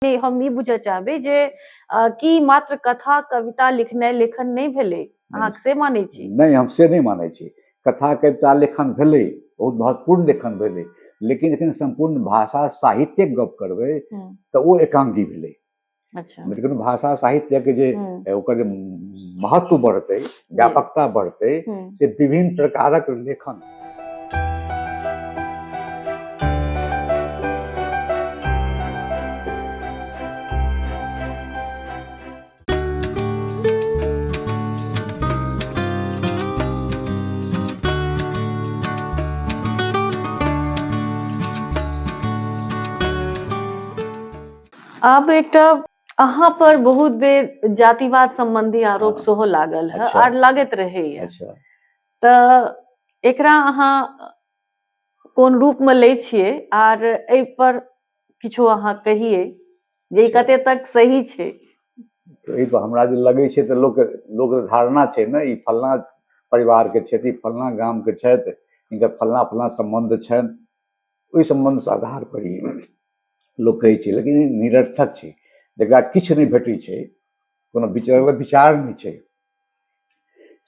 के हम ई बुझऽ चाहबै जे अ, की मात्र कथा कविता लिखनाइ लेखन नहि भेलै अहाँ से मानै छी नहि हम से नहि मानै छी कथा कविता लेखन भेलै बहुत महत्वपूर्ण लेखन भेलै लेकिन जखन सम्पूर्ण भाषा साहित्यक गप करबै हम्म, तऽ ओ एकांगी भेलै अच्छा लेकिन भाषा साहित्यके जे हम्म, ओकर जे महत्व बढ़तै व्यापकता बढ़तै हम्म। से विभिन्न प्रकारक लेखन आब एकटा अहाँ पर बहुत बेर जातिवाद संबंधी आरोप हाँ। सेहो लागल है अच्छा। आर लागत रहे अच्छा। तऽ एकरा अहाँ कोन रूप में ले छिए आर ए पर किछो अहाँ कहिए जे अच्छा। कते तक सही छै ई पर हमरा जे लगे छै तऽ लोक लोक धारणा छै ने ई फलना परिवार के छथि फलना गाम के छथि इनकर फलना फलना संबंध छनि ओहि सम्बन्धसँ आधार पर ई लोक कहै छै लेकिन ई निरर्थक छै जकरा किछु नहि भेटै छै कोनो विचार विचार नहि छै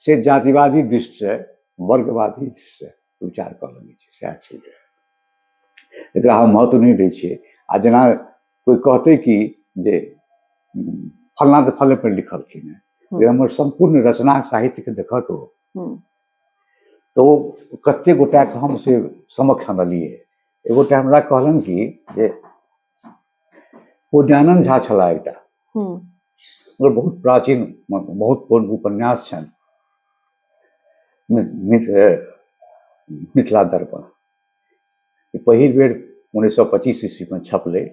से जातिवादी दृष्टिसँ वर्गवादी दृष्टिसँ विचार कऽ लेने छै सएह छै एकरा हम महत्व नहि दै छियै आ जेना कोइ कहतै कि जे फलना तऽ फले पर लिखलखिन हेँ हमर सम्पूर्ण रचना साहित्यके देखत ओ तऽ ओ कतेक गोटाके हम से समक्ष अनलियै एगो गोटा हमरा कहलनि कि जे ओ ज्ञानन्द झा छलाह एकटा ओकर बहुत प्राचीन बहुत पूर्व उपन्यास छनि मिथिला दर्पण पहिल बेर उन्नैस सए पच्चीस ईस्वीमे छपलै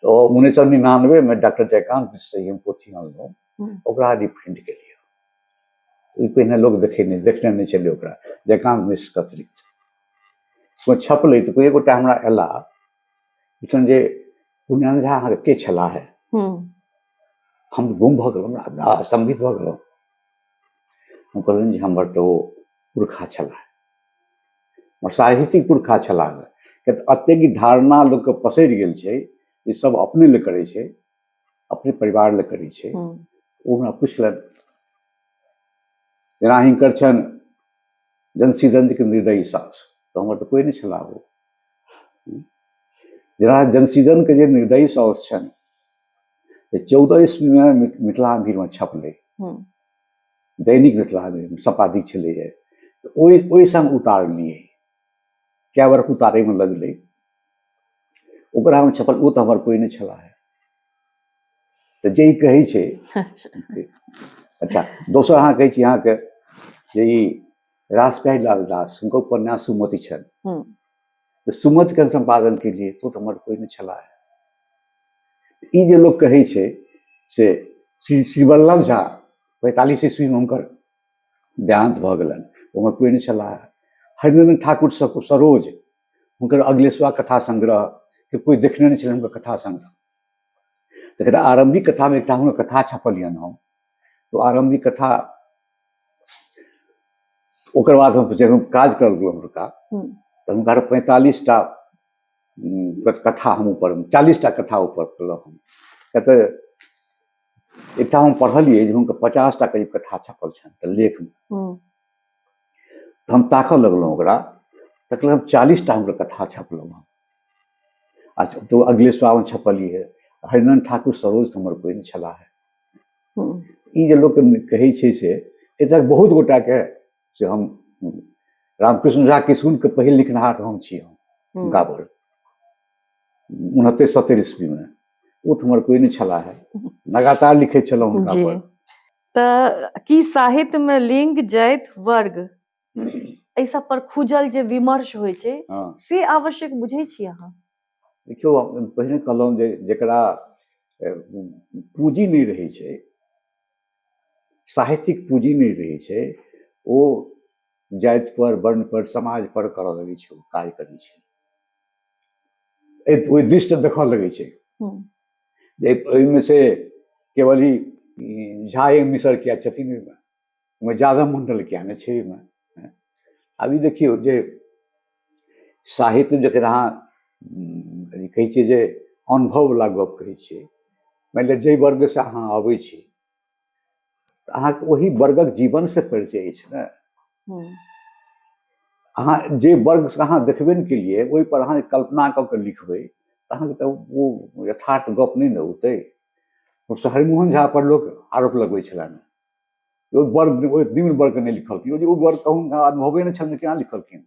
उन्नैस सए निनानबेमे डॉक्टर जयकान्त मिश्र हम पोथी अनलहुँ ओकरा रिफाइंड के लिए ई पहिने लोग देखे नहीं देखने नहीं चले ओकरा जयकांत मिश्र के अतिरिक्त कोइ छपलै तऽ कोइ एगो टा हमरा अयला पुछलन जे पुण्यान झा अहाँके के छलाह है हम्म, हम तऽ गुम भऽ गेलहुँ हमरा असम्बित भऽ गेलहुँ हम कहलनि जे हमर तऽ ओ पुरखा छलाह हमर साहित्यिक पुरखा छलाह किया तऽ एतेक ई धारणा लोकके पसरि गेल छै ई सब अपने लए करै छै अपने परिवार लए करै छै हम्म। ओ हमरा पुछलनि जेना हिनकर छनि जनसी दंतके निर्दयी सास तऽ हमर तऽ कोइ नहि छलाह ओ जेना जनसीजनके जे निर्दयी सास छनि से चौदह ईस्वीमे मि- मिथिला भीड़मे छपलै हम्म। दैनिक मिथिला सम्पादित छलैए तऽ ओहि ओहि सङ्ग उतारलियै कए बेर उतारैमे लगलै ओकरामे छपल ओ तऽ हमर कोइ नहि छला है तऽ जे ई कहै छै अच्छा दोसर अहाँ कहै छी अहाँके जे ई रासप्यारी लाल दास हुनकर उपन्यास सुमति छनि तऽ सुमतिके सम्पादन केलिए ओ तऽ हमर कोइ नहि छला है ई जे लोक कहै छै से श्री श्रीवल्लभ झा पैंतालिस ईस्वीमे हुनकर देहान्त भऽ गेलनि हमर प्रेम छलाह हरिनन्दन ठाकुर सरोज हुनकर अगलेसवा कथा संग्रह के कोइ देखने नहि छलै हुनकर कथा संग्रह तकर आरम्भिक कथामे एकटा हुनकर कथा छपलियनि हम तो आरम्भिक कथा ओकर बाद हम जखन काज करल गेलहुँ हुनका तऽ हुनका पैंतालीस टा कथा हम ऊपर चालीस टा कथा ऊपर पढ़लहुँ हम किया तऽ एकटा हम पढ़लियै जे हुनकर पचास टा करीब कथा छपल छनि तऽ लेखमे हम्म, तऽ हम ताकऽ लगलहुँ ओकरा तऽ कहलहुँ हम चालीस टा हुनकर कथा छपलहुँ हम आ छ- तऽ ओ अगले सावन छपलियै हरिनंद ठाकुर सरोज हमर बहिन छलाह हम्म, ई जे लोक कहै छै से एतय बहुत गोटाके से हम रामकृष्ण झा किशुनके पहिल लिखनाहार हम छी हम हम्म। हुनका पर उनहत्तरि सत्तरि ईस्वीमे ओ तऽ हमर कोइ नहि छला है लगातार लिखै छलहुँ हुनका जी पर तऽ की साहित्यमे लिंग जाति वर्ग एहि सब पर खुजल जे विमर्श होइ छै हँ से आवश्यक बुझै छी अहाँ देखियौ हम पहिने कहलहुँ जे जकरा ए, पूँजी नहि रहै छै साहित्यिक पूँजी नहि रहै छै ओ जातिपर वर्णपर समाजपर करऽ लगै छै ओ काज करै छै ओहि दृष्ट देखऽ लगै छै जे ओहिमे से केवल ई झा ए मिसर किया छथिन ओहिमे ओहिमे यादव मण्डल किया नहि छै ओहिमे आब ई देखियौ जे साहित्य जकर अहाँ कहै छियै जे अनुभववला गप्प कहै छियै मानि लिअ जाहि वर्गसँ अहाँ अबै छी तऽ अहाँके ओहि वर्गक जीवनसँ परिचय अछि ने हम्म। अहाँ जे वर्गसँ अहाँ देखबे ने केलियै ओहिपर अहाँ कल्पना कऽ कऽ लिखबै तऽ अहाँके तऽ ओ यथार्थ गप्प नहि ने औतै शहरी मोहन झा पर लोक आरोप लगबै छलनि ओ वर्ग ओहि निम्न वर्गके नहि लिखलखिन ओ जे ओ वर्गके हुनका अनुभवे नहि छलनि केना लिखलखिन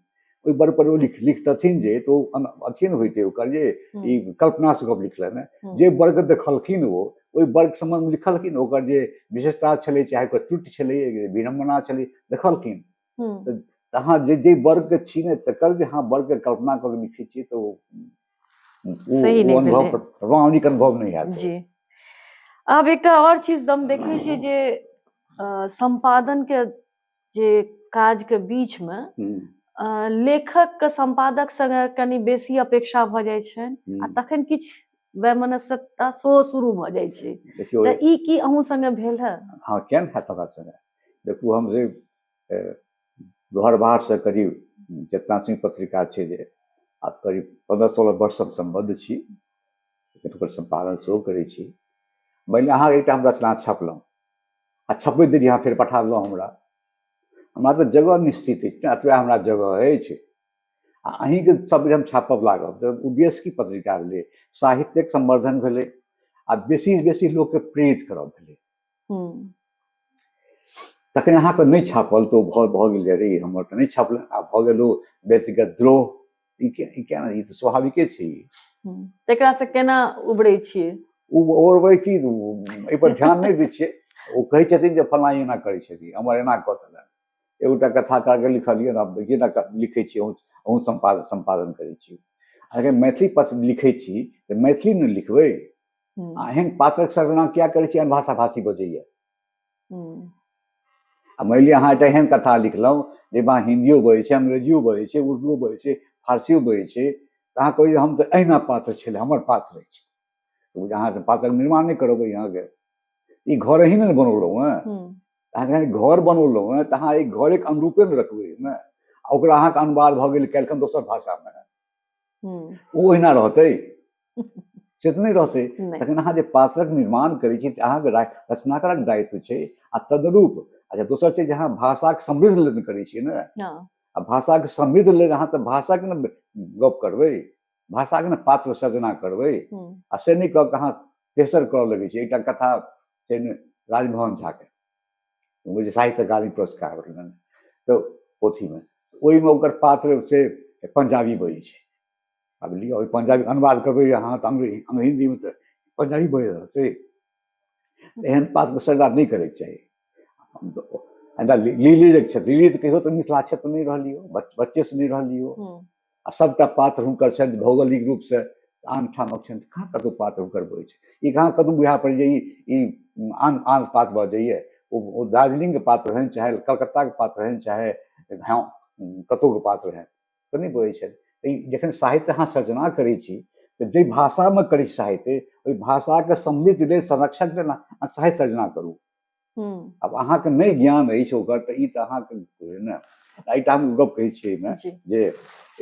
ओहि वर्गपर ओ लिख लिखतथिन जे तऽ ओ अथिए ने होइते ओकर जे ई कल्पनासँ गप लिखलनि जे वर्ग देखलखिन ओ ओहि वर्ग सम्बन्धमे लिखलखिन ओकर जे विशेषता छलै चाहे ओकर त्रुटि छलै विडम्बना छलै देखलखिन हम्म। अहाँ जे जे वर्ग के छी ने तकर जे अहाँ वर्ग के कल्पना कऽ के लिखै छियै तऽ ओ ओ- सही ओ नहि अनुभव भेलै। प्रामाणिक अनुभव नहि हैत जी आब एकटा और चीज हम देखै छियै जे अ, संपादन के जे काज के बीच में हम्म, अ, लेखक के संपादक संगे कनि बेसी अपेक्षा भऽ जाइ छनि आ हम्म। तखन किछु वैमनस्यता सेहो शुरू भऽ जाइ छै देखियौ तऽ ई की अहूँ संगे भेल है हाँ केहन हैत हमरा संगे देखू हम जे घर बाहरसँ करीब जितना सिंह पत्रिका छै जे आब करीब पन्द्रह सोलह वर्षसँ हम सम्बद्ध छी ओकर सम्पादन सेहो करै छी मानि लिअ अहाँ एकटा हम रचना छपलहुँ आ छपबैत देरी अहाँ फेर पठा देलहुँ हमरा हमरा तऽ जगह निश्चित अछि ने एतबे हमरा जगह अछि आ अहीँके सब बेर हम छापब लागब तऽ उद्देश्य की पत्रिका भेलै साहित्यिक सम्वर्धन भेलै आ बेसीसँ बेसी लोककेँ प्रेरित करब भेलै तखन अहाँके नहि छापल तऽ ओ भऽ भऽ गेल जे रे हमर तऽ नहि छापल आ भऽ गेल ओ व्यक्तिगत द्रोह ई के ई केना ई तऽ स्वाभाविके छै ई। तकरा से केना उबरै छियै ओ ओरबै की ओ एहिपर ध्यान नहि दै छियै ओ कहै छथिन जे फलाँ एना करै छथिन हमर एना कऽ देलनि एगोटा कथाकारके लिखलियै ने आब देखिए ने क- लिखै छी अहूँ अहूँ सम्पादन सम्पादन करै छी अगर मैथिली पत्र लिखै छी तऽ मैथिलीमे लिखबै आ एहन पात्रक सजना किया करै छी एहन भाषा भाषी बजैया आ मानि लिअ अहाँ एकटा एहन कथा लिखलहुँ जाहिमे अहाँ हिन्दियो बजै छै अंग्रेजियो बजै छै उर्दूओ बजै छै फारसियो बजै छै तऽ अहाँ कहै हम तऽ अहिना पात्र छलै हमर पात्र अछि तऽ अहाँ तऽ पात्रक निर्माण नहि करबै अहाँके ई घर ही ने बनौलहुँ हेँ अहाँ जखन घर बनौलहुँ हेँ तऽ अहाँ एहि घरेके अनुरूपे ने रखबै ओहिमे आ ओकरा अहाँके अनुवाद भऽ गेल काल्हिखन दोसर भाषामे ओ ओहिना रहतै से तऽ नहि रहतै तखन अहाँ जे पात्रक निर्माण करै छी तऽ अहाँके रचनाकारक दायित्व छै आ तदरूप अच्छा दोसर छै जे अहाँ भाषाके समृद्ध लेल करै छियै ने हँ। आ भाषाके समृद्ध लेल अहाँ तऽ भाषाके ने गप करबै भाषाके ने पात्र सजना करबै आ से नहि कऽ कऽ अहाँ तेसर करऽ लगै छै एकटा कथा छै ने राजमोहन झाके बुझलियै साहित्य अकादमी पुरस्कार भेटलनि तऽ पोथीमे ओहिमे ओकर पात्र से पंजाबी बजै छै आब लिअ ओहि पंजाबी अनुवाद करबै अहाँ तऽ अंग्रेजी हिन्दीमे तऽ पंजाबी बजि रहल छै एहन पात्रके सजा नहि करैके चाही लीली जे छथि लीली तऽ कहियो तऽ मिथिला क्षेत्र नहि रहलियो बच्चेसँ नहि रहलियो आ सभटा पात्र हुनकर छनि भौगोलिक रूपसँ आन ठामक छनि कहाँ कतहु पात्र हुनकर बहै छै ई कहाँ कतहु बुझा पड़ि जाइए ई आन आन पात्र भऽ जाइए ओ दार्जिलिंगके पात्र रहनि चाहे कलकत्ताके पात्र रहनि चाहे हँ कतहुके पात्र रहनि तऽ नहि बहै छनि ई जखन साहित्य अहाँ सर्जना करै छी तऽ जाहि भाषामे करै छी साहित्य ओहि भाषाके समृद्ध लेल संरक्षण लेल साहित्य सर्जना करू आब अहाँके नहि ज्ञान अछि ओकर तऽ ई तऽ अहाँके ने एहिठाम हम गप कहै छियै एहिमे जे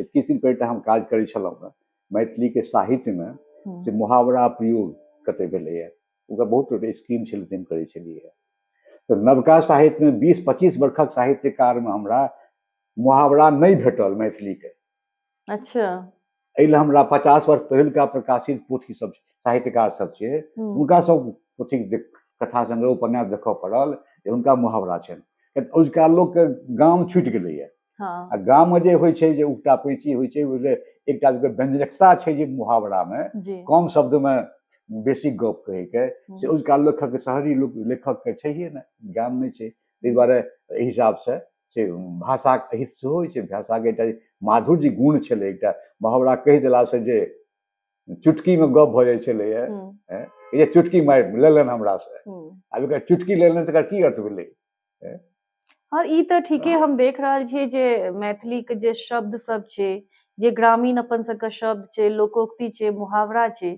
किछु दिन पहिले हम काज करै छलहुँ हँ मैथिलीके साहित्यमे से मुहावरा प्रयोग कते भेलैए ओकर बहुत गोटे स्कीम छलै ताहिमे करै छलियै तऽ नवका साहित्यमे बीस पच्चीस वर्षक साहित्यकारमे हमरा मुहावरा नहि भेटल मैथिलीके अच्छा एहि लए हमरा पचास वर्ष पहिलका प्रकाशित पोथी सब साहित्यकार सब छै हम्म, हुनका सब पोथी देख- कथा संग्रह उपन्यास देखऽ पड़ल जे हुनका मुहावरा छनि किया तऽ ओहिका लोकके गाम छुटि गेलैए हाँ आ गाममे जे होइ छै जे उगटा पैची होइ छै ओहिमे एकटा जे व्यंजकता छै जे मुहावरामे जी कम शब्दमे बेसी गप कहैके से हम्म, ओहिका लेखक शहरी लोक लेखकके छैहे ने ज्ञान नहि छै ताहि दुआरे एहि हिसाबसँ से भाषाक अहित सेहो होइ छै भाषाके एकटा माधुर्य गुण छलै एकटा मुहावरा कहि देलासँ जे चुटकीमे गप भऽ जाइ छलैए जे चुटकी मारि लेलनि हमरासँ आब एकर चुटकी लेलनि तकर की अर्थ भेलै हँ ई तऽ ठीके हम देख रहल छियै जे मैथिलीके जे शब्द सब छै जे ग्रामीण अपन सबके शब्द छै लोकोक्ति छै मुहावरा छै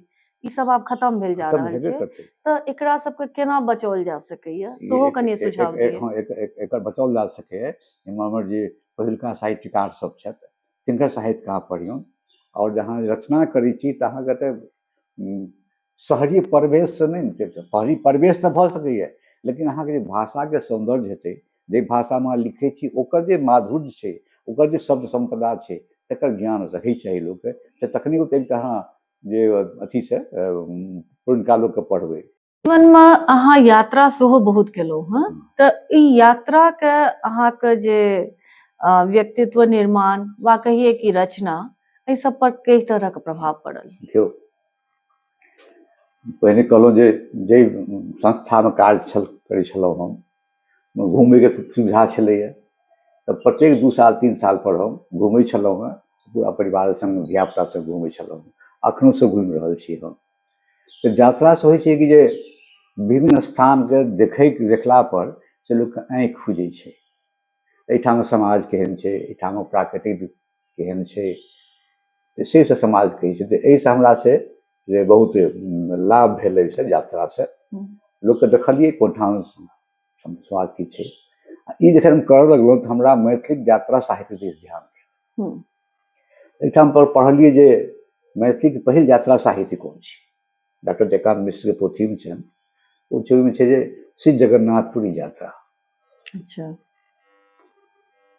ई सब आब खत्म भेल जा रहल छै तऽ एकरा सबके केना बचाओल जा सकैए सेहो कनि सुझाव दिअ एकर बचाओल जा सकैए हमर जे पहिलका साहित्यकार सब छथि तिनकर साहित्य कहाँ पढ़ियौन आओर जहाँ रचना करै छी तऽ अहाँके तऽ शहरी परिवेशसँ नहि शहरी परिवेश तऽ भऽ सकैए लेकिन अहाँके जे भाषाके सौन्दर्य हेतै जे भाषामे अहाँ लिखै छी ओकर जे माधुर्य छै ओकर जे शब्द सम्पदा छै तकर ज्ञान रहै चाही लोकके तऽ तखने ओतेक तऽ अहाँ जे अथी छै पुरनका लोकके पढ़बै जीवनमे अहाँ यात्रा सेहो बहुत केलहुँ हँ तऽ ई यात्राके अहाँके जे व्यक्तित्व निर्माण वा कहिए कि रचना एहि सब पर कई तरहक प्रभाव पड़ल देखियौ पहिने कहलहुँ जे जाहि संस्थामे काज छल करै छलहुँ हम घूमैके सुविधा छलैए तऽ प्रत्येक दू साल तीन सालपर हम घूमै छलहुँ हेँ पूरा परिवार संग धियापुता सब घूमै छलहुँ अखनो से घूमि रहल छी हम तऽ यात्रा से होइ छै कि जे विभिन्न स्थानके देखै देखला पर से लोकके आँखि खुजै छै एहिठाम समाज केहन छै एहिठाम प्राकृतिक केहन छै से से समाज कहै छै तऽ एहिसँ हमरा से जे बहुत लाभ भेल एहिसँ यात्रासँ लोकके देखलियै कोन ठाम स्वाद की छै आ ई जखन हम करऽ लगलहुँ तऽ हमरा मैथिली यात्रा साहित्य दिस ध्यान गेल एहिठाम पर पढ़लियै जे मैथिलीके पहिल यात्रा साहित्य कोन छै डॉक्टर जयकान्त मिश्रके पोथीमे छनि ओ छै ओहिमे छै जे श्री जगन्नाथपुरी यात्रा अच्छा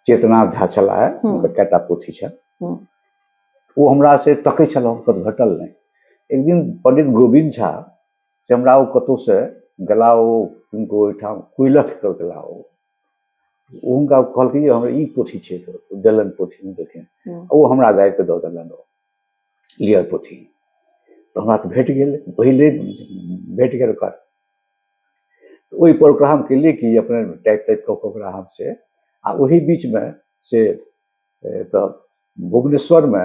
चेतनाथ झा छलाह हुनकर कएटा पोथी छनि ओ हमरा से तकै छलहुँ कत घटल नहि एक दिन पंडित गोविंद झा से हमरा ओ कतहुसँ गेला ओ हुनको ओहिठाम कुलक कऽ गेला ओ हुनका कहलकै जे हमरा ई पोथी छै देलन पोथी देलखिन ओ हमरा गाबिके दऽ देलन ओ लिअ पोथी तऽ हमरा तऽ भेट गेल पहिले भेट गेल ओकर ओहिपर ओकरा हम केलियै कि अपने टाइप ताइप कऽ कऽ ओकरा हम से आ ओही बीचमे से तऽ भुवनेश्वरमे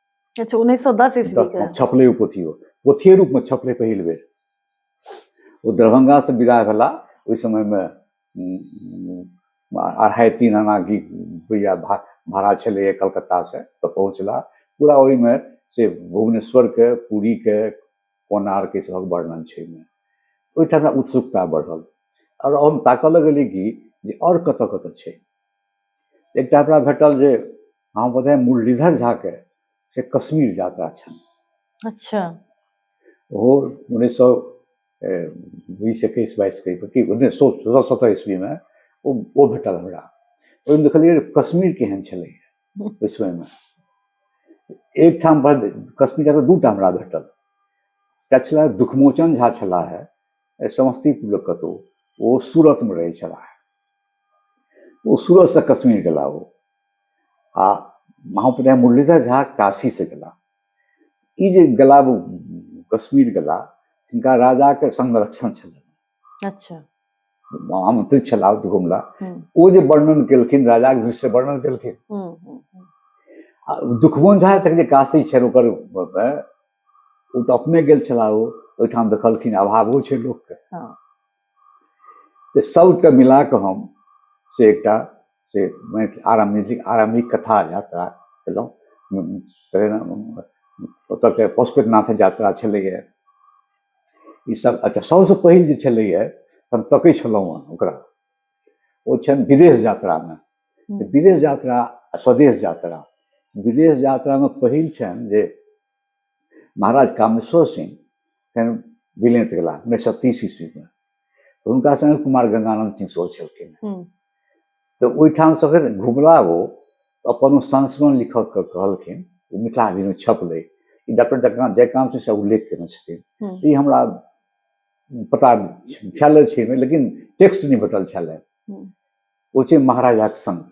अच्छा उन्नैस सए दस ईस्वी छपलै ओ पोथी ओ पोथिये रूपमे छपलै पहिल बेर ओ दरभंगासँ विदा भेला ओहि समयमे अढ़ाइ तीन आना की रुपैआ भाड़ा छलैए कलकत्तासँ तऽ पहुँचला पूरा ओहिमे से भुवनेश्वरके पूरीके कोनारके सभक वर्णन छै ओहिमे ओहिठाम उत्सुकता बढ़ल आओर हम ताकऽ लगलियै कि जे आओर कतऽ कतऽ छै एकटा हमरा भेटल जे अहाँ बोधे मुरलीधर झाके से कश्मीर यात्रा छनि अच्छा ओहो उन्नैस सौ बीस एकैस बाईस के कि उन्नैस सौ सोलह सत्रह ईस्वीमे ओ ओ भेटल हमरा ओहिमे देखलियै जे कश्मीर केहन छलै ओहि समयमे एकठाम पर कश्मीर जाकर दूटा हमरा भेटल एकटा छला दुखमोचन झा छलाह समस्तीपुर कतहु ओ सूरतमे रहै छलाह ओ सूरतसँ कश्मीर गेला ओ आ महाप्रधान मुरलीधर झा काशीसँ गेला ई जे गेला ओ कश्मीर गेला तिनका राजाके संरक्षण छलनि अच्छा आमंत्रित छला ओ घुमला हम्म, ओ जे वर्णन केलखिन राजाके दृश्य वर्णन केलखिन हम्म, हम्म, हम्म, आ दुखमोहन झा तक जे काशी छनि ओकर अ, ओ तऽ अपने गेल छला ओ ओहिठाम देखलखिन अभावो छै लोकके हाँ। तऽ सभके मिला कऽ हम से एकटा से मैथिल आरम्भिक आरम्भिक कथा यात्रा केलहुँ ओतऽके पशुपतिनाथ यात्रा छलैए ईसभ अच्छा सभसँ पहिल जे छलैए हम तकै छलहुँ हँ ओकरा ओ छनि विदेश यात्रामे विदेश यात्रा आ स्वदेश यात्रा विदेश यात्रामे पहिल छनि जे महाराज कामेश्वर सिंह फेर विलीन गेला उन्नैस सए तीस ईस्वीमे तऽ हुनका सङ्गे कुमार गंगानन्द सिंह सेहो छलखिन हम्म। तऽ ओहिठाम से फेर घुमला ओ अपन संस्मरण लिखक के कहलखिन ओ मिथिला अभिनय छपलै ई डॉक्टर जयकांत जयकांत सिंह साहब उल्लेख केने छथिन हम्म। ई हमरा पता छलै छै लेकिन टेक्स्ट नहि भेटल छलै हम्म। ओ छै महाराजाक संग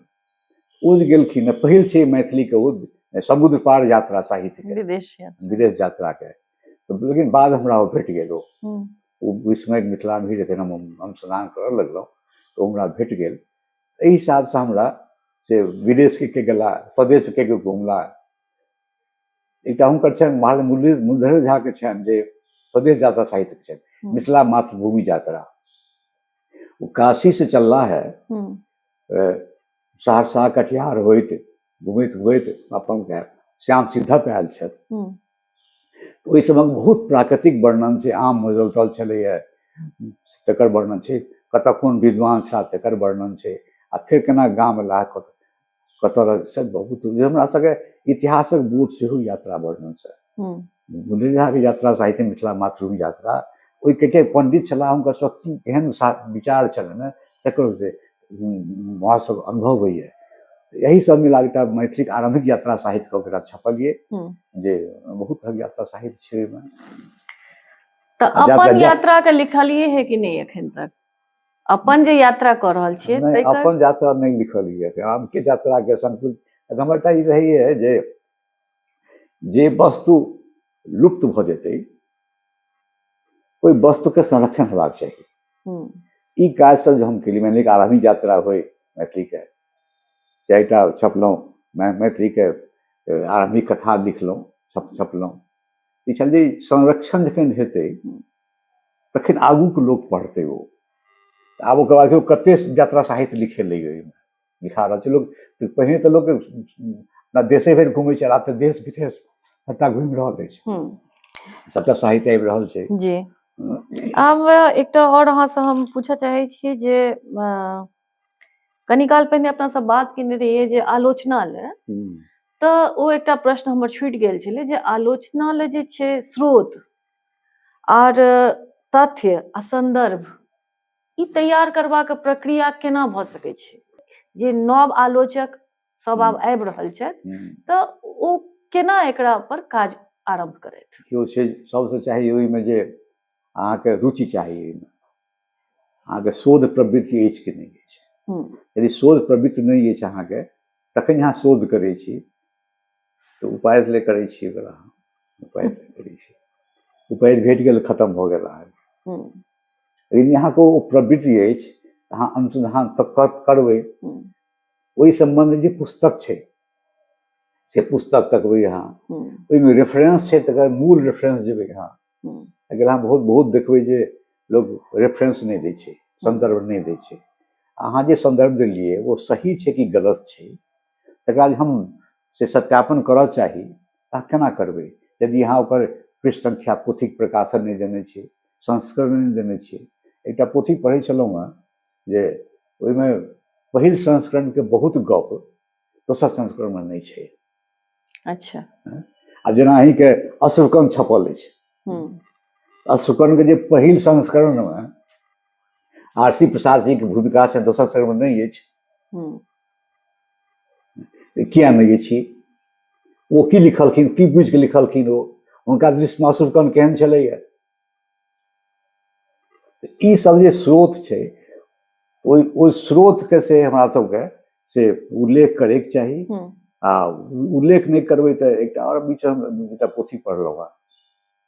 ओ जे गेलखिन ने पहिल छै मैथिलीके ओ समुद्र पार यात्रा साहित्यके विदेश यात्रा विदेश यात्राके तऽ लेकिन बाद हमरा ओ भेट गेल ओ हम्म, ओ विस्मय मिथिला भी जखन हम हम स्नान करऽ लगलहुँ तऽ ओ हमरा भेट गेल एहि हिसाबसँ हमरा से विदेशके के गेला स्वदेशके के घुमला एकटा हुनकर छनि महाल मुरली मुरलीधर झाके छनि जे स्वदेश यात्रा साहित्यके छनि हम्म, मिथिला मातृभूमि यात्रा ओ काशीसँ चलला है हम्म, सहरसा कटिहार होइत घुमैत घुमैत अपन श्याम सिद्धक आयल छथि ओहि समयमे बहुत प्राकृतिक वर्णन छै आम मजलतल छलैए तकर वर्णन छै कतऽ कोन विद्वान छा तकर वर्णन छै आ फेर केना गाम अयला कतऽ रहै से बहुत हमरा सबके इतिहासक बोध सेहो यात्रा वर्णनसँ बुझलियै अहाँके यात्रा साहित्य मिथिला मातृभूमि यात्रा ओहिके के पण्डित छलाह हुनकर सब की केहन विचार छलनि तकर से सब अनुभव होइए यही सब मिला एकटा मैथिलीक आरम्भिक यात्रा साहित्य कऽ एकटा छपलियै जे बहुत तरहक यात्रा साहित्य छै ओहिमे तऽ अपन यात्रा के लिखलिए है कि नहीं एखन तक अपन जे यात्रा कर रहल छियै अपन यात्रा नहीं लिखलिए हम के यात्रा के संकुल हमर एकटा ई रहैए जे जे वस्तु लुप्त भऽ जेतै ओहि वस्तुके संरक्षण हेबाक चाही हम्म। ई काजसँ जे हम केली मानि लिअ आरम्भी यात्रा होइ मैथिलीके चारिटा छपलहुँ मैथिलीके आरम्भिक कथा लिखलहुँ छप छपलहुँ ई छल जे संरक्षण जखन हेतै तखन आगूके लोक पढ़तै ओ आब ओकर बाद कतेक यात्रा साहित्य लिखेलै ओहिमे मिठा रहल छै लोक पहिने तऽ लोक अपना देशे भरि घुमै छल आब तऽ देश विदेश सभटा घुमि रहल अछि हम्म। सभटा साहित्य आबि रहल छै जी आब एकटा आओर अहाँसँ हम पूछऽ चाहै छी जे अ, कनी काल पहिने अपना सब बात केने रहियै जे आलोचना ले हम्म, तऽ ओ एकटा प्रश्न हमर छूटि गेल छलै जे आलोचना ले जे छै स्रोत आर तथ्य आ संदर्भ ई तैयार करबाक प्रक्रिया केना भऽ सकै छै जे नव आलोचक सब आब आबि रहल छथि तऽ ओ केना एकरा पर काज आरम्भ करथि केओ छै सबसँ चाही ओहिमे जे अहाँके रुचि चाही एहिमे अहाँके शोध प्रवृत्ति अछि कि नहि अछि यदि शोध प्रवृत्ति नहि अछि अहाँके तखन अहाँ शोध करै छी तऽ उपाय ले करै छी ओकरा हम। उपाय ले करै छी उपाय भेट गेल खतम भऽ गेल अहाँके हम्म, लेकिन यहाँके ओ प्रवृत्ति अछि अहाँ अनुसन्धान तऽ कर- करबै हम्म, ओहि सम्बन्धमे जे पुस्तक छै से पुस्तक तकबै अहाँ हम्म, ओहिमे रेफरेंस छै तकर मूल रेफरेंस जेबै अहाँ हम्म, अगर अहाँ बहुत बहुत देखबै जे लोक रेफरेंस नहि दै छै सन्दर्भ नहि दै छै अहाँ जे सन्दर्भ देलियै ओ सही छै कि गलत छै तकरा जे हम से सत्यापन करऽ चाही तऽ केना करबै यदि अहाँ ओकर पृष्ठ संख्या पोथीक प्रकाशन नहि देने छी संस्करण नहि देने छी एकटा पोथी पढ़ै छलहुँ हँ जे ओहिमे पहिल संस्करणके बहुत गप दोसर संस्करणमे नहि छै अच्छा आ जेना अहींके अश्रुकन छपल अछि अश्रुकनके जे पहिल संस्करणमे आर सी प्रसाद जीके भूमिका छै दोसर संस्करणमे नहि अछि किया नहि अछि ओ की लिखलखिन की बुझि कऽ लिखलखिन ओ हुनका दृष्टि मासुरकन केहन छलैए ई सब जे स्रोत छै ओहि ओहि स्रोतके से हमरा सबके से उल्लेख करैके चाही हम्म। आ उल्लेख नहि करबै तऽ एकटा आओर बीच हम एकटा पोथी पढ़लहुँ हेँ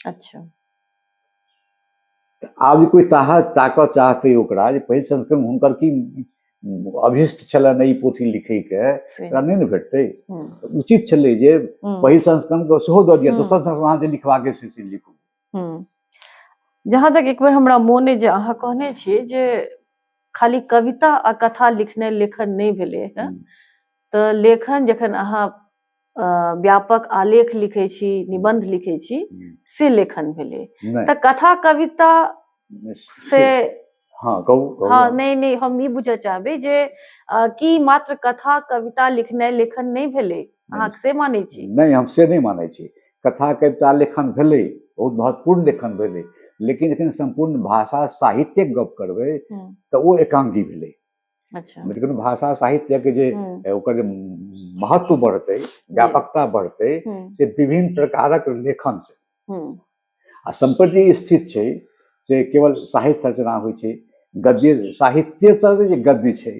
अच्छा तऽ आब जे कोइ ताहा ताकऽ चाहतै ओकरा जे पहिल संस्करण हुनकर की अभिष्ट छलनि ई पोथी लिखैके से ओकरा नहि ने भेटतै हम्म, तऽ उचित छलै जे हम्म, पहिल संस्करणके सेहो दऽ दिअ हम्म। दोसर संस्करण अहाँ जे लिखबाके से से लिखू हम्म। जहाँ तक एक बेर हमरा मोन अइ जे अहाँ कहने छियै जे खाली कविता आ कथा लिखने लेखन नहि भेलै हँ हम्म। तऽ लेखन जखन अहाँ व्यापक आलेख लिखै छी निबंध लिखै छी से लेखन भेलै तऽ कथा कविता से हँ कहू हँ नहि नहि हम ई बुझऽ चाहबै जे की मात्र कथा कविता लिखनाइ लेखन नहि भेलै अहाँ से मानै छी नहि हम से नहि मानै छी कथा कविता लेखन भेलै बहुत महत्वपूर्ण लेखन भेलै लेकिन जखन सम्पूर्ण भाषा साहित्यक गप करबै तऽ ओ एकांगी भेलै अच्छा मतलब कोनो भाषा साहित्यके जे हम्म, ए, ओकर जे महत्व बढ़तै व्यापकता बढ़तै हम्म, से विभिन्न प्रकारक लेखन से हम्म, आ सम्प्रति ई स्थित छै से केवल साहित्य रचना होइ छै गद्य साहित्य तर जे गद्य छै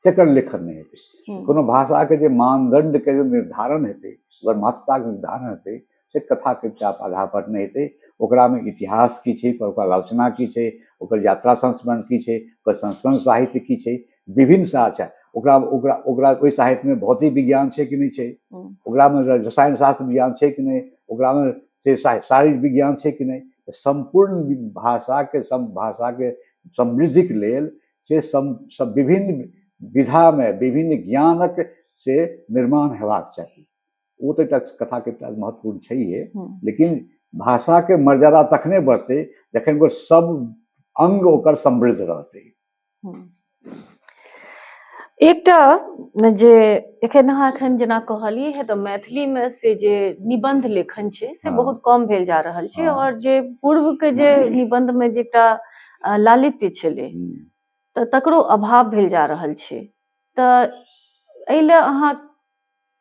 तकर लेखन नहि हेतै हम्म, कोनो भाषाके जे मानदण्डके जे निर्धारण हेतै ओकर महत्ताके निर्धारण हेतै से कथा कविता आधारपर नहि हेतै ओकरामे इतिहास की छै पर ओकर आलोचना की छै ओकर यात्रा संस्मरण की छै ओकर संस्मरण साहित्य की छै विभिन्न साहित्य ओकरा ओकरा ओकरा ओहि साहित्यमे भौतिक विज्ञान छै कि नहि छै ओकरामे रसायन शास्त्र विज्ञान छै कि नहि ओकरामे से शारीरिक विज्ञान छै कि नहि सम्पूर्ण भाषाके सम भाषाके समृद्धिके लेल से सम सब विभिन्न विधामे विभिन्न ज्ञानक से निर्माण हेबाक चाही ओ तऽ एकटा कथाके एकटा महत्वपूर्ण छैहे हम्म। लेकिन भाषाके मर्यादा तखने बढ़तै जखन ओ सब अंग ओकर समृद्ध रहतै हम्म। एकटा जे एखन अहाँ एखन जेना कहलियै है तऽ मैथिलीमे से जे निबंध लेखन छै से हाँ। बहुत कम भेल जा रहल छै हाँ। और जे पूर्व के जे निबंध में जे एकटा अ, लालित्य छलै हम्म। तऽ तकरो अभाव भेल जा रहल छै तऽ एहि लए अहाँ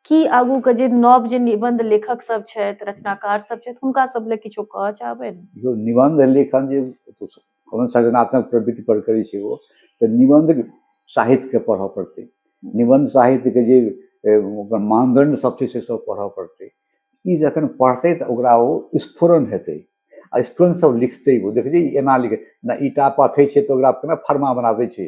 की आगूके जे नव जे निबन्ध लेखक सब छथि रचनाकार सब छथि हुनका सब लए किछो कहऽ चाहबै जो निबन्ध लेखन जे कोनो सृजनात्मक प्रवृत्ति पर करै छै ओ तऽ निबन्ध साहित्यके पढ़ऽ पड़तै निबन्ध साहित्यके जे ओकर मानदंड सब छै से सब पढ़ऽ पड़तै ई जखन पढ़तै तऽ ओकरा ओ स्फुरन हेतै आ स्फुरन सब लिखतै ओ देखै छै एना लिखै ना ईटा पथै छै तऽ ओकरा केना फरमा बनाबै छै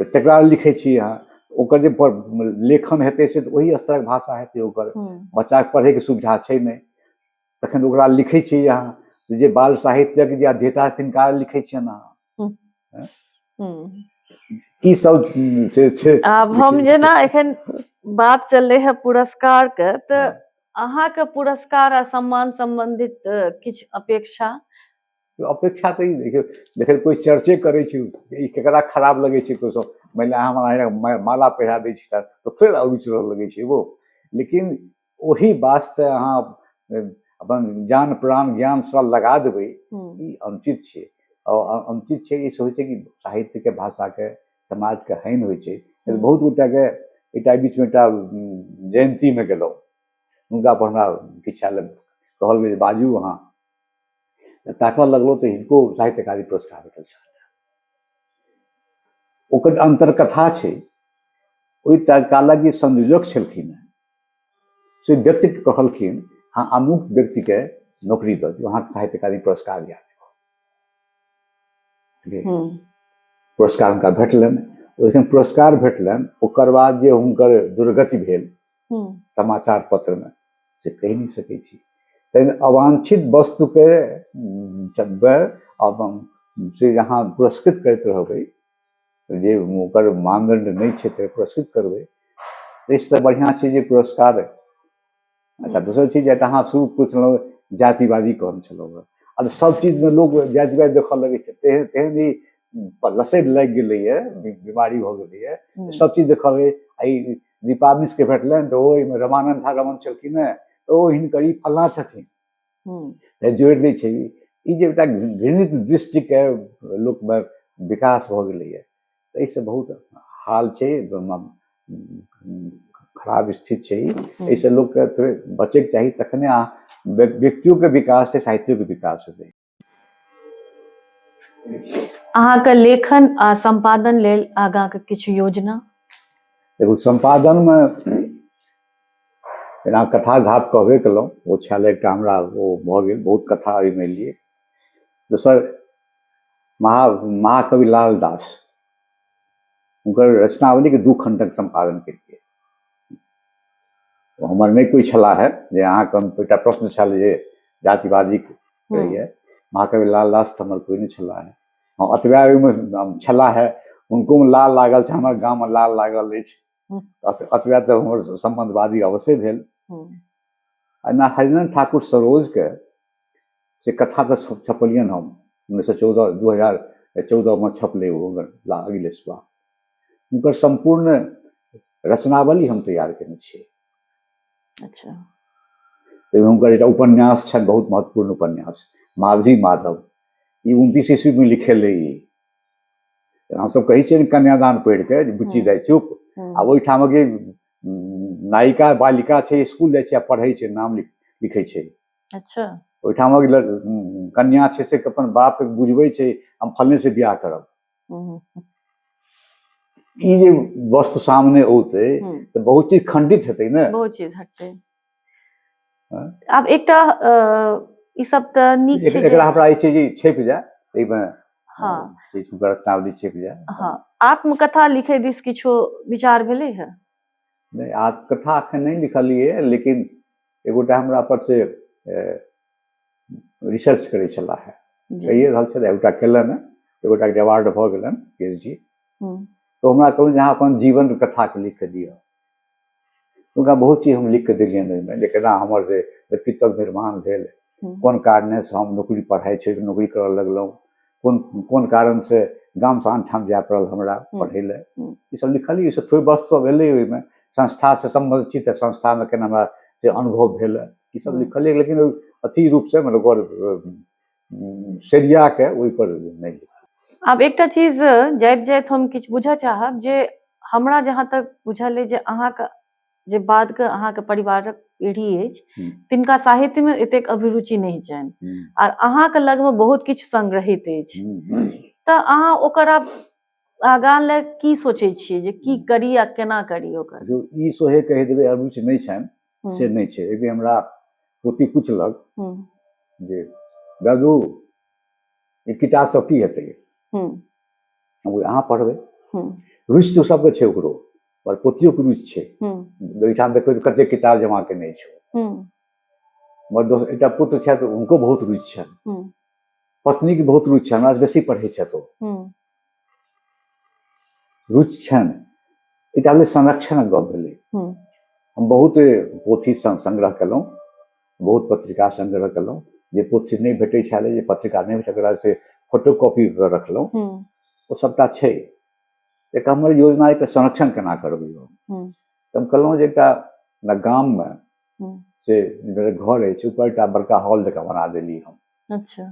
तऽ तकरा लिखै छी अहाँ ओकर जे लेखन हेतै से तऽ ओहि स्तरक भाषा हेतै ओकर बच्चाके पढ़ैके सुविधा छै नहि तखन ओकरा लिखै छी अहाँ जे बाल साहित्यक जे अध्येता तिनका लिखै छियनि अहाँ ई सब से छै आब हम जेना एखन बात चललै है पुरस्कारके तऽ अहाँके पुरस्कार आ सम्मान सम्बन्धित किछु अपेक्षा अपेक्षा तऽ ई देखियौ देखियौ कोइ चर्चे करै छै ई केकरा खराब लगै छै कोइ सब मानि लिअ अहाँ माला पहिरा दै छी तऽ फेर अरुचि रहऽ लगै छै वो लेकिन ओही वास्ते अहाँ अपन जान प्राण ज्ञान सब लगा देबै ई अनुचित छै आओर अनुचित छै ई होइ छै कि साहित्यके भाषाके समाजके हानि होइ छै बहुत गोटाके एकटा बीचमे एकटा जयन्तीमे गेलहुँ हुनका पर हमरा किछु कहल गेल बाजू अहाँ तऽ ताकऽ लगलहुँ तऽ हिनको साहित्य अकादमी पुरस्कार भेटल छल ओकर अन्तरकथा छै ओहि कालक जे संयोजक छलखिन हेँ से व्यक्तिके कहलखिन अहाँ अमुक व्यक्तिके नौकरी दऽ दियौ अहाँके साहित्य अकादमी पुरस्कार दिया देब हम्म, पुरस्कार हुनका भेटलनि ओहिठाम पुरस्कार भेटलनि ओकर बाद जे हुनकर दुर्गति भेल हम्म, समाचार पत्रमे से कहि नहि सकैत छी तहन अवांछित वस्तुके जगबै आब से अहाँ पुरस्कृत करैत रहबै जे ओकर मानदंड नहि छै तऽ पुरस्कृत करबै ताहिसँ तऽ बढ़िआँ छै जे पुरस्कार अच्छा दोसर चीज जे अहाँ शुरू पुछलहुँ जातिवादी कहने छलहुँ हँ आ सब चीजमे लोक जातिवाद देखऽ लगै छै तेहन तेहन ई लसैत लागि गेलैए बीमारी भऽ गेलैए सब चीज देखबै आ ई दीपा मिश्रके भेटलनि तऽ ओ एहिमे रमानन्द झा रमन छलखिन हेँ तऽ ओ हिनकर ई फल्लाँ छथिन तऽ जोड़ि दै छै ई जे एकटा घृणित दृष्टिके लोकमे विकास भऽ गेलैए एहिसँ बहुत हाल छै खराब स्थिति छै एहिसँ लोकके थोड़े बचैके चाही तखने अहाँ व्यक्तियोके विकास छै साहित्योके विकास हेतै अहाँके लेखन आ संपादन लेल आगाँके किछु योजना देखू सम्पादनमे जेना कथा धात कहबे केलहुँ ओ छल एकटा हमरा ओ भऽ गेल बहुत कथा ओहिमे लिए दोसर महा महाकवि लाल दास हुनकर रचनावलीके दू खण्डक सम्पादन केलिए ओ हमर नहि कोइ छला है जे अहाँके हम एकटा प्रश्न छल जे जातिवादी रहैए महाकवि लाल दास तऽ हमर कोइ नहि छला है हँ अतबा ओहिमे छला है हुनकोमे लाल लागल छै हमर गाममे लाल लागल अछि अतबा तऽ हमर सम्बन्धवादी अवश्य भेल एना हरिनारायण ठाकुर सरोजके से कथा तऽ छपलियनि हम उन्नैस सए चौदह दू हजार चौदहमे छपलै ओ अगिले सुबह हुनकर सम्पूर्ण रचनावली हम तैयार केने छियै अच्छा ताहिमे हुनकर एकटा उपन्यास छनि बहुत महत्वपूर्ण उपन्यास माधवी माधव ई उनतीस ईस्वीमे लिखेल रही हमसभ कहै छियै ने कन्यादान पढ़ि कऽ जे बुच्ची जाइ चुप आ ओहिठामक जे नायिका बालिका छै स्कूल जाइ छै आ पढ़ै छै नाम लिखै छै अच्छा ओहिठामक कन्या छै से अपन बापके बुझबै छै हम फलने से बियाह करब ई जे वस्तु सामने औते हम्म। तऽ बहुत चीज खंडित हेतै ने बहुत चीज हटतै हाँ। आब एकटा अ, ई सब तऽ नीक एक- छै जे- एकरा हमरा ई छै जे छपि जाय एहिमे हाँ। किछु रचनावली छपि जाय हाँ आत्मकथा लिखै दिस किछो विचार भेलै है नहि आ कथा एखन नहि लिखलिए लेकिन एगोटा हमरा पर से रिसर्च करै छलाह है कहिए रहल छथि एगोटा केलनि हँ एगोटा के अवार्ड भऽ गेलनि पी एच डी तऽ हमरा कहलहुँ जे अहाँ अपन जीवन कथाके लिख कऽ दिअ हुनका बहुत चीज हम लिख कऽ देलियनि ओहिमे जे केना हमर जे व्यक्तित्व निर्माण भेल कोन कारणेसँ हम नौकरी पढ़ाइ छोड़ि नौकरी करय लगलहुँ कोन कोन कारण से गाम से आनठाम जाय पड़ल हमरा पढ़ै लए ई सब लिखलियै से थोड़े बस सब एलै ओहिमे संस्था से सम्बन्धित छी तऽ संस्था मे केना हमरा से अनुभव भेल ई सब लिखलियै लेकिन अथी रूप से मतलब ओकर सेरिया के ओहि पर नहि आब एकटा चीज जाइत जाइत हम किछु बुझऽ चाहब जे हमरा जहाँ तक बुझल अइ जे अहाँके जे बाद के अहाँके परिवारक पीढ़ी अछि हम्म। तिनका साहित्य में एतेक अभिरुचि नहीं छनि हम्म, आर अहाँके लग में बहुत किछु संग्रहित अछि हम्म, हम्म। तऽ अहाँ ओकर आब आगाँ ले की सोचै छियै जे की करी आ केना करी ओकर जो ई सोहे कहि देबै अरुचि नहि छनि हम्म, से नहि छै एक दिन हमरा पोती पुछलक हम्म, जे दादू ई किताब सब की हेतै हम्म, हम कहलियै, अहाँ पढ़बै हम्म, रुचि तऽ सबके छै ओकरो पर पोतियो के रुचि छै हम्म, ओहिठाम देखबै तऽ कतेक किताब जमा केने छौ हम्म, हमर दोस्त एकटा पुत्र छथि हुनको बहुत रुचि छनि हम्म, पत्नीके बहुत रुचि छनि हमरासँ बेसी पढ़ै छथि ओ हम्म, रुचि छनि एकटा भेलै संरक्षणक गप भेलै हम्म, हम बहुत पोथी सं- संग्रह केलहुँ बहुत पत्रिका संग्रह केलहुँ जे पोथी नहि भेटै छलै जे पत्रिका नहि भेटै ओकरा से फोटो कॉपी कऽ रखलहुँ हम्म, ओ सभटा छै तऽ एकटा हमर योजना एकटा संरक्षण केना करबै हम हम्म। तऽ हम कहलहुँ जे एकटा हमरा गाममे हम्म। से मेरे घर अछि ऊपर एकटा बड़का हॉल जकाँ बना देली हम अच्छा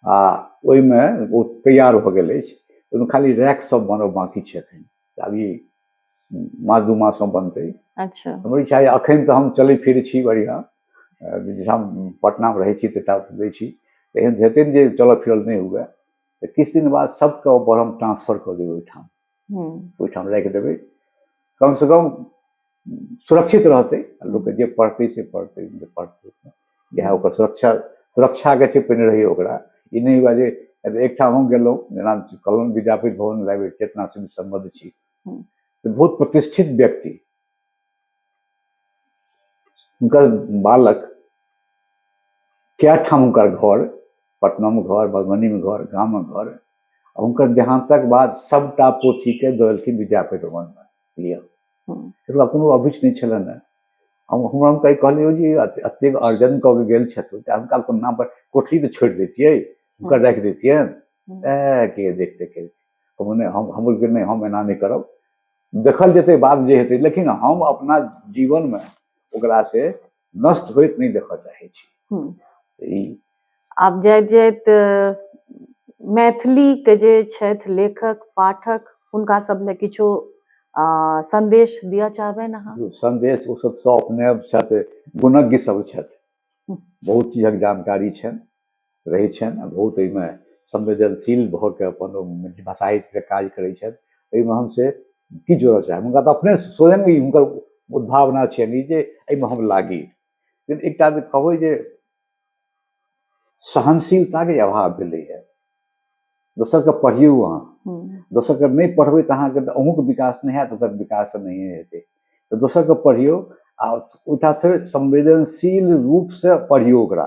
आ ओहिमे ओ तैयार भऽ गेल अछि ओहिमे खाली रैक सब बनब बाँकी छै एखन तऽ आब ई मास दू मासमे बनतै अच्छा हमर इच्छा यए एखन तऽ हम चलै फिरै छी बढ़िआँ अ, जहिठाम पटनामे रहै छी तहिठाम दै छी एहन हेतै ने जे चलऽ फिरल नहि हुए तऽ किछु दिन बाद सबके ऊपर हम ट्रांसफर कऽ देबै ओहिठाम हम्म, ओहिठाम राखि देबै कमसँ कम सुरक्षित रहतै आ लोकके जे पढ़तै से पढ़तै जे पढ़तै इएह ओकर सुरक्षा सुरक्षाके छै पहिने रहैए ओकरा ई नहि हुआ जे अब एकठाम हम गेलहुँ जेना कहलहुँ विद्यापति भवन लाइब्रेरी चेतना सिंह सम्बद्ध छी हम्म। तऽ बहुत प्रतिष्ठित व्यक्ति हुनकर बालक कए ठाम हुनकर घर पटनामे घर मधुबनीमे घर गाममे घर हुनकर देहान्तक बाद सभटा पोथीके दऽ देलखिन विद्यापति भवनमे लिअ एतुका कोनो अभिच नहि छलनि हेँ हम हमरा हम कहि कहलियै जे एतेक अर्जन कऽ के गेल छथि तऽ हुनका अपन नाम पर कोठरी तऽ छोड़ि दैतियै हुनकर राखि दैतियनि ए के देखते के मने हम हमर नहि हम एना नहि करब देखल जेतै बाद जे हेतै लेकिन हम अपना जीवनमे ओकरासँ नष्ट होइत नहि देखऽ चाहै छी हम्म। ई आब जाइत जाइत अ, मैथिलीके जे छथि लेखक पाठक हुनका सब लए किछो अ, संदेश दिअ चाहबनि अहाँ जो संदेश ओ सब सब अपने छथि गुणज्ञ सब छथि बहुत चीजक जानकारी छनि रहै छनि आ बहुत एहिमे संवेदनशील भऽ कऽ अपन भाषा हितसँ काज करै छथि एहिमे हम से की जोड़ऽ चाहब हुनका तऽ अपने स्वयं ई हुनकर उद्भावना छनि जे एहिमे हम लागी लेकिन एकटा जे कहबै जे सहनशीलताके अभाव भेलैए दोसरके पढ़ियौ अहाँ दोसरके नहि पढ़बै तऽ अहाँके तऽ अहूँके विकास नहि हैत ओकर विकास नहि हेतै तऽ दोसरके पढ़ियौ आ ओहिठामसँ संवेदनशील रूपसँ पढ़ियौ ओकरा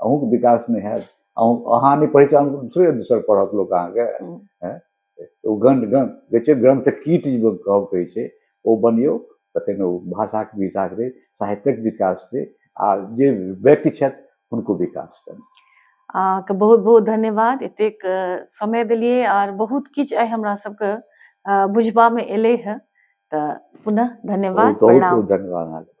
अहूँके विकास नहि हैत अहूँ अहाँ नहि पढ़ै छी अहूँ दोसरे दोसर पढ़त लोक अहाँके हम्म। हैं? ओ गंध गंध कहै छै ग्रंथ कीट जे लोक कहब कहै छै ओ बनियौ तखन ओ भाषाके विकास हेतै साहित्यक विकास हेतै आ जे व्यक्ति छथि हुनको विकास हेतनि अहाँके बहुत बहुत धन्यवाद एतेक अ, समय देलियै आर बहुत किछु आइ हमरा सबके अ, बुझबामे एलै हँ तऽ पुनः धन्यवाद बहुत बहुत प्रणाम बहुत धन्यवाद अहाँके